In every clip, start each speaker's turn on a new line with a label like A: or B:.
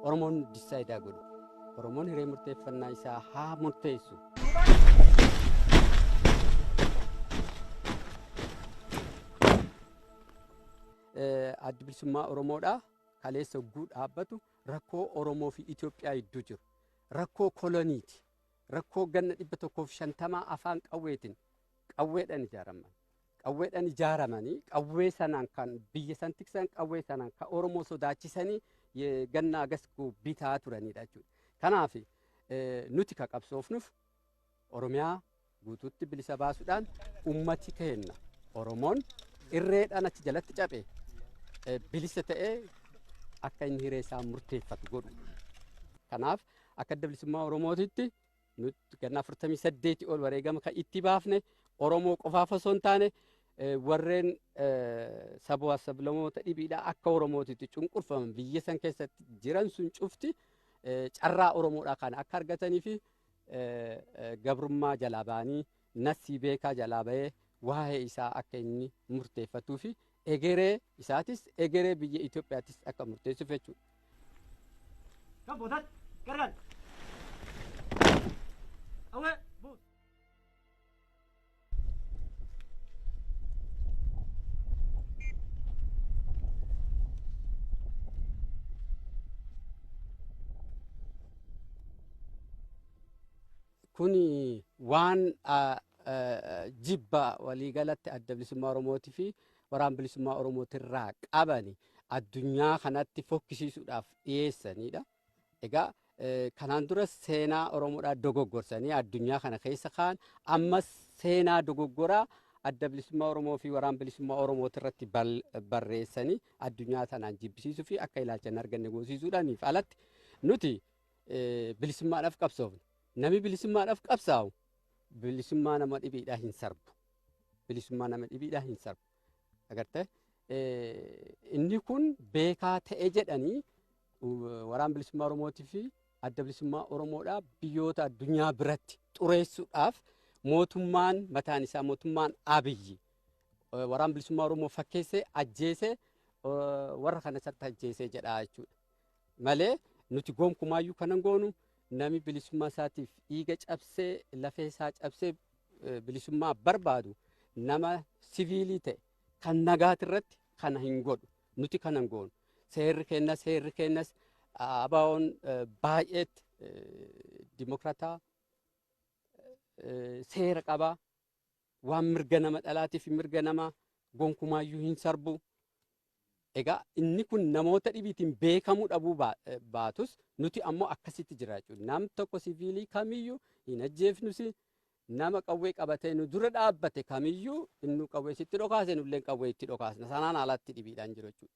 A: Oromoon dissaayidaa godhu. Oromoon hiree murteeffannaa isaa haa murteessu. Addi bilisummaa Oromoodhaa kaleessa hogguu dhaabbatu rakkoo Oromoo fi Itoophiyaa gidduu jiru. Rakkoo koloniiti. Rakkoo ganna dhibba tokkoo fi shantamaa afaan qawweetiin qawweedhaan ijaaraman. qawweedhaan ijaaramanii qawwee sanaan kan biyya san tiksan qawwee sanaan kan Oromoo sodaachisanii ye- ganna agas ku- bitaa turanidha jechuudha. Kanaaf eh, nuti ka qabsoofnuuf Oromiyaa guutuutti bilisa baasuudhaan ummati keenna Oromoon irreedhaan achi jalatti caphe eh, bilisa ta'ee akka inni hiree isaa murteeffatu godhu. Kanaaf akka adda bilisummaa Oromootitti Nuti ganna 48 ol wareegama kan itti baafne Oromoo qofaaf osoo hin taane warreen sabaa sablamoota dhibiidhaa akka Oromootitti cunqurfaman biyya san keessatti jiran sun cufti carraa Oromoodhaa kana akka argatanii fi gabrummaa jalaa ba'anii Naffii beekaa jalaa bahee waa'ee isaa akka inni murteeffatuu fi egeree isaatis egeree biyya Itoophiyaatis akka murteessuuf jechuudha. Kan boodaatti gargaar. Awwee buus. Kun waan jibba waliigalatti adda bilisummaa Oromootii fi waraan bilisummaa Oromootirraa qabani addunyaa kanatti fokkisiisuudhaaf dhiyeessanidha. Egaa kanaan dura seenaa Oromoodhaa dogoggorsanii addunyaa kana keessa kaan ammas seenaa dogoggoraa adda bilisummaa Oromoo fi waraan bilisummaa Oromootirratti barreessanii addunyaa tanaan jibbisiisuu fi akka ilaalcha hin arganne goosiisuudhaaniif alatti nuti bilisummaadhaaf qabsoofna. Nami bilisummaadhaaf qabsaa'u bilisummaa nama dhibiidhaa hin sarbu. Bilisummaa nama dhibiidhaa hin sarbu. Agartee inni kun beekaa ta'e jedhanii waraan bilisummaa Oromootii fi adda bilisummaa Oromoodhaa biyyoota addunyaa biratti xureessuudhaaf mootummaan mataan isaa mootummaan Abiyyi waraan bilisummaa Oromoo fakkeessee ajjeesee warra kanas akka ajjeesee jedhaa jechuudha. malee nuti gonkumaayyuu kan hin goonu nami bilisummaa isaatiif dhiiga cabsee lafee isaa cabsee eh, bilisummaa barbaadu nama siviilii ta'e kan nagaati irratti kana hin godhu nuti kana hin goonu seerri kennas seerri kennas ah, abaa'oon eh, baay'eetti eh, dimokrataa eh, seera qabaa waan mirga nama dhalaatiif mirga nama gonkumaayyuu hin sarbu. Egaa inni kun namoota dhibiitiin beekamuu dhabuu baa- eh, baatus nuti ammoo akkasitti jira jechuudha. Nam tokko siviilii kamiyyuu hin ajjeefnusi nama qawwee qabatee nu dura dhaabbate kamiyyuu inni qawwee sitti dhokaase nulleen qawwee itti dhokaasna. Sanaan alatti dhibiidhaan jiru jechuudha.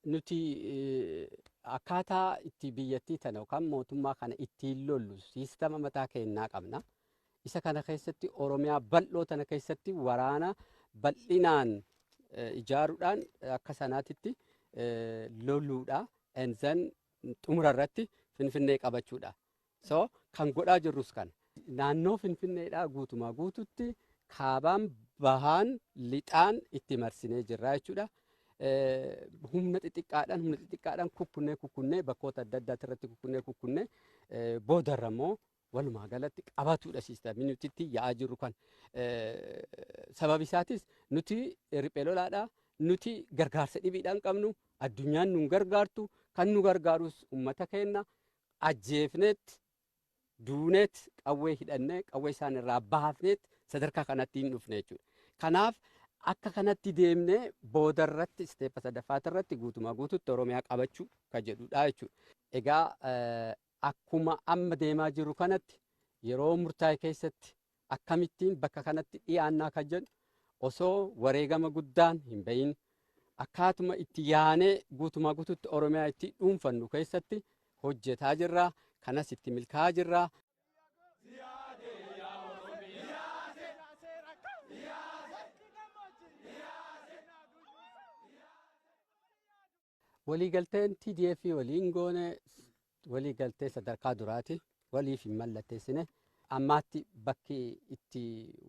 A: nuti eh, akkaataa itti biyyattii tana yookaan mootummaa kana ittiin lollu siistama mataa keenyaa qabna. Isa kana keessatti Oromiyaa bal'oo tana keessatti waraana bal'inaan ijaaruudhaan akka sanaatitti loluudha. And then xumura irratti Finfinnee qabachuudha. So kan godhaa jirrus kana. Naannoo Finfinneedhaa guutumaa guututti kaabaan bahaan lixaan itti marsinee jirra jechuudha. Humna xixiqqaadhaan humna xixiqqaadhaan kukkunnee kukkunnee bakkoota adda addaati irratti kukkunnee kukkunnee boodarra immoo Walumaa galatti qabatuudha siistamii nuti itti yaa'aa jirru kan sababi isaatis nuti riphee lolaadha nuti gargaarsa dhibiidhaan qabnu addunyaan nun gargaartu kan nu gargaarus uummata keenya ajjeefneet duuneet qawwee hidhannee qawwee isaan irraa baafneet sadarkaa kanatti hin dhufne jechuudha. Kanaaf akka kanatti deemnee booda irratti isteeppa sadaffaati irratti guutumaa guututti Oromiyaa qabachuu kan jedhudha jechuudha. Egaa Akkuma amma deemaa jirru kanatti yeroo murtaa'e keessatti akkamittiin bakka kanatti dhiyaannaa kan jedhu osoo wareegama guddaan hin bahin akkaatuma itti yaanee guutumaa guututti Oromiyaa itti dhuunfannu keessatti hojjetaa jirra. Kanas itti milkaa'aa jirra. Waliigalteen TDF waliin goone waliigaltee sadarkaa duraati. Waliif hin mallatteessine. Ammaatti bakki itti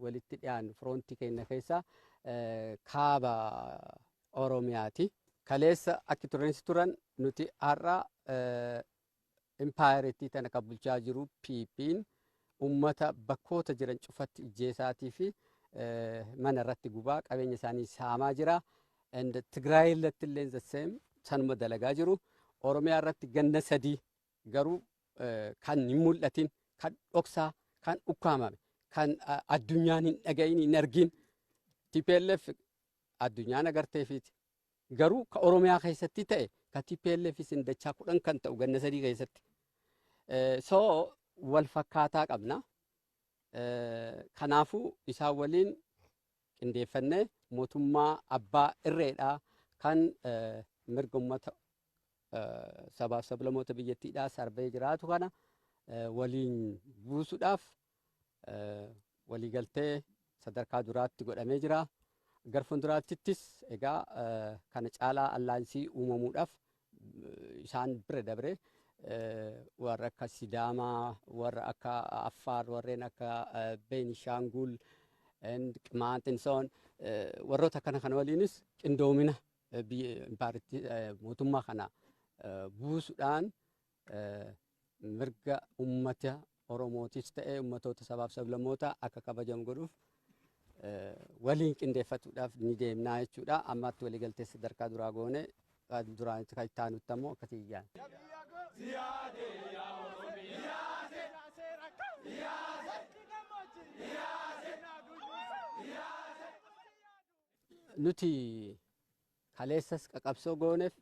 A: walitti dhiyaannu firoontii keenya keessaa kaaba Oromiyaati. Kaleessa akki turreensi turan nuti har'a impaayerittii tana kan bulchaa jiru PP'n ummata bakkoota jiran cufatti ijjeesaatii fi mana irratti gubaa qabeenya isaanii saamaa jira. And Tigraay irratti illee the same sanuma dalagaa jiru. Oromiyaa irratti ganna sadii garuu kan hin mul'atin kan dhoksaa kan ukkaamame kan addunyaan hin dhagahin hin argin TPLF addunyaan agarteefiiti Garuu ka Oromiyaa keessatti ta'e ka tplf sin dachaa kudhan kan ta'u ganna sadii keessatti. So wal fakkaataa qabna. Kanaafuu isaan waliin qindeeffannee mootummaa abbaa irreedhaa kan mirga uummata sabaaf sablamoota biyyattiidhaa sarbee jiraatu kana waliin buusuudhaaf waliigaltee sadarkaa duraatti godhamee jira. Gar fuulduraattis egaa kana caalaa allaansii uumamuudhaaf isaan bira dabre warra akka Sidaamaa, warra akka Affaar, warreen akka Beenishaanguul, Qimaant, Insoon warroota akkana kana waliinis qindoomina mootummaa kana buusuudhaan mirga ummata Oromootis ta'ee ummatoota sabaaf sablammootaa akka kabajamu godhuuf waliin qindeeffatuudhaaf ni deemnaa jechuudha. Ammaatti waliigaltee sadarkaa duraa goone duraanitti kan itti aanutti ammoo akkasii ijaan. Nuti Kaleessas qaqabsoo gooneef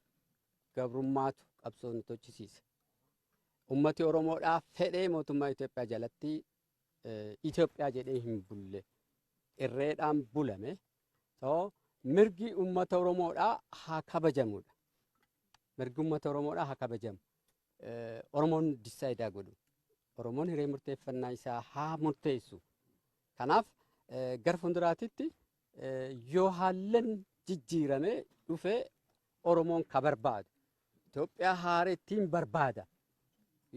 A: gabrummaatu qabsoo nu tochisiise. Ummati Oromoodhaa fedhee mootummaa Itoophiyaa jalatti Itoophiyaa jedhee hin bulle. Irreedhaan bulame. So, mirgi ummata Oromoodhaa haa kabajamudha. Mirgi ummata Oromoodhaa haa kabajamu. Oromoon dissaayidaa godhu. Oromoon hiree murteeffannaa isaa haa murteessu. Kanaaf gara fuulduraatitti Yoo haallan jijjiirame dhufe Oromoon ka barbaadu Itoophiyaa haarettiin barbaada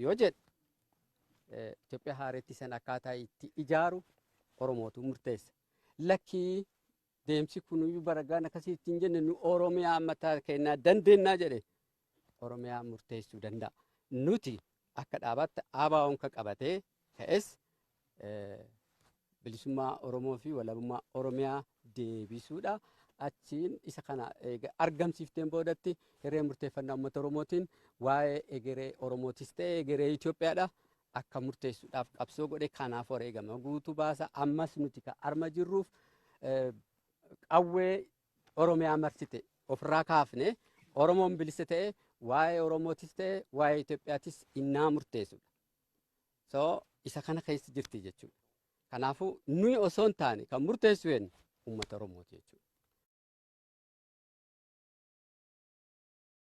A: yoo jedhe Itoophiyaa haarettii san akkaataa itti ijaaru Oromootu murteessa. Lakkii deemsi kunuyyuu baragaan akkasii ittiin jenne nu Oromiyaa mataa kennaa dandeennaa jedhe Oromiyaa murteessuu danda'a. Nuti akka dhaabaatti ABOn ka qabatee ka'es bilisummaa Oromoo fi walabummaa Oromiyaa deebisuudha. Achiin isa kana argamsiifteen boodatti hiree murteeffannaa uummata Oromootiin waa'ee egeree Oromootis ta'e egeree Itoophiyaadha akka murteessuudhaaf qabsoo godhe kanaaf wareegama guutuu baasa. Ammas nuti ka arma jirruuf qawwee Oromiyaa marsite ofirraa kaafne Oromoon bilisa ta'e waa'ee Oromootis ta'e waa'ee Itoophiyaatis innaa murteessudha. So isa kana keessa jirti jechuudha. Kanaafuu nuyi osoo hin taane kan murteessu eenyu uummata Oromooti jechuudha.